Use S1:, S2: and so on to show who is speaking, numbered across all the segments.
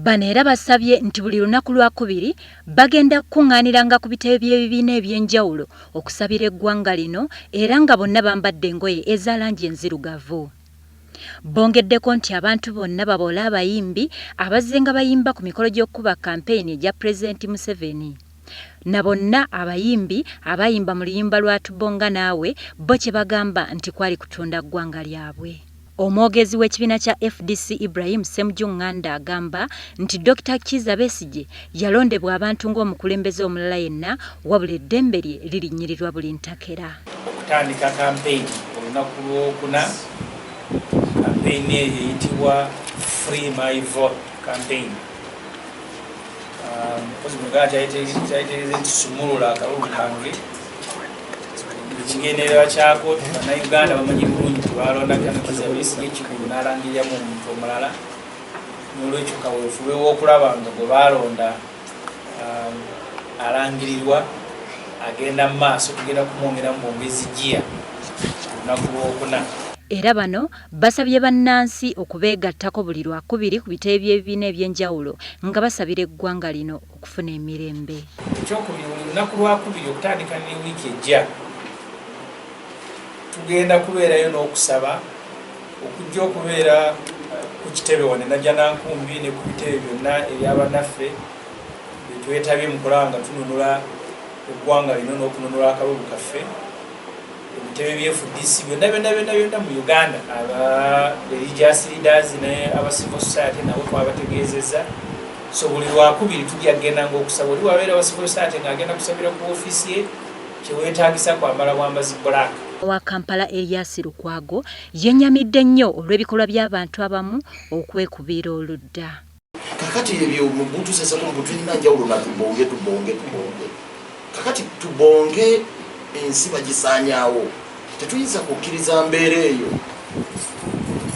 S1: Bano era basabye nti buli lunaku lwakubiri bagenda kukunganiranga ku bitebe by'ebibiina eby'enjawulo okusabira eggwanga lino era nga bonna bambadde engoye eza langi enzirugavu. Bongeddeko nti abantu bonna babole abayimbi abazzenga bayimba ku mikolo gy'okukuba kampeyini egya Pulezidenti Museveni na bonna abayimbi abaayimba mu luyimba lwa Tubonga Naawe bo kye bagamba nti kwali kutunda ggwanga lyabwe. Omwogezi w'ekibiina kya fdc Ibrahim Ssemujju Nganda agamba nti Dokita Kiiza Besigye yalondebwa abantu ng'omukulembeze omulala yenna wabula eddembe lye lirinnyirirwa buli ntakera. Okutandika
S2: kampeyini olunaku lw'okuna, kampeyini eyo eyitibwa Free My Vote Campaign. mukozi muganda kyayitegeeza nti sumulula akalulu kange ekigendererwa kyako banauganda bamanyi bulungi tebalondakanakizabesiekikulu nalangiriramu omuntu omulala nolwekyo kawefube wokulaba nga gwe balonda um, alangirirwa agenda mu maaso tugenda kumwongeramu bwongezi jiya olunaku lwokuna era bano
S1: Basabye bannansi okubeegattako buli Lwakubiri ku bitebe by'ebibiina eby'enjawulo nga basabira eggwanga lino okufuna emirembe. Ekyokubiri, buli
S2: lunaku Lwakubiri okutandika ne wiiki ejja, tugenda kubeerayo n'okusaba okujja okubeera ku kitebe wano e Najjanankumbi ne ku bitebe byonna ebya bannaffe be twetabye mu kulaba nga tununula eggwanga lino n'okununula akalulu kaffe. ebitebe bye fdc byonna byonna byonna byonna mu uganda aba religious leaders ne aba civil society nabo twabategeezezza so buli lwakubiri tujja kugendanga okusaba oli wabeera wa civil society ng'agenda kusabira ku ofiisi ye kyewetaagisa kwambala bwambazi black wa kampala
S1: elias lukwago yenyamidde nnyo olw'ebikolwa by'abantu abamu okwekubiira oludda kakati
S3: ebyo mugutuseseko mbu tulina njawulo na tubonge tubonge tubonge kakati tubonge ensi bagisanyawo tetuyinza kukkiriza mbeera eyo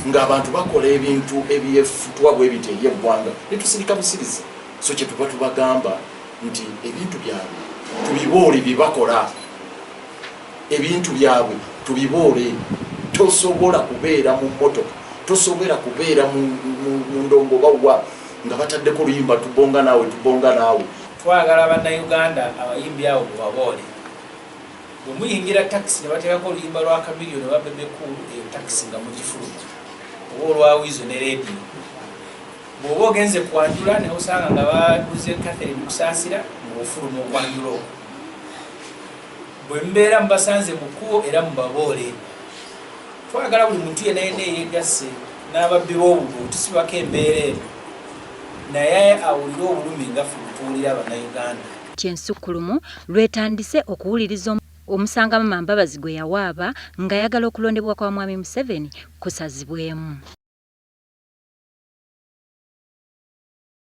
S3: ngaabantu bakola ebintu ebyefutwa bwebiti eri eggwanga netusirika busiriza so kyetuba tubagamba nti ebintu byabwe tubiboole byebakola ebintu byabwe tubiboole tosobola kubeera mu motoka tosobera kubeera mu ndongo bawa nga bataddeko oluyimba tubonga naawe tubonga naawe twagala
S2: bannayuganda abayimbi awo mubaboole bwe muyingira takisi ne bateekako oluyimba lwa kamiriyo ne babebekulu eyo takisi nga mugifuluma oba olwawiizo ne rediyo bw'oba ogenze kwanjula ne osanga nga baduze catherine kusaasira ng'ofuluma okwanjula okwo Bwe mubeera mubasanze mu kkubo era mubaboole. Twagala buli muntu yenna yenna eyeegasse n'ababbi b'obubbi okutusibako embeera eno naye awulire obulumi nga ffe bwe tuwulira Bannayuganda. ky'ensukkulumu
S1: lwetandise okuwuliriza omusango Amama Mbabazi gwe yawaaba ng'ayagala okulondebwa kwa Mwami Museveni kusazibwemu.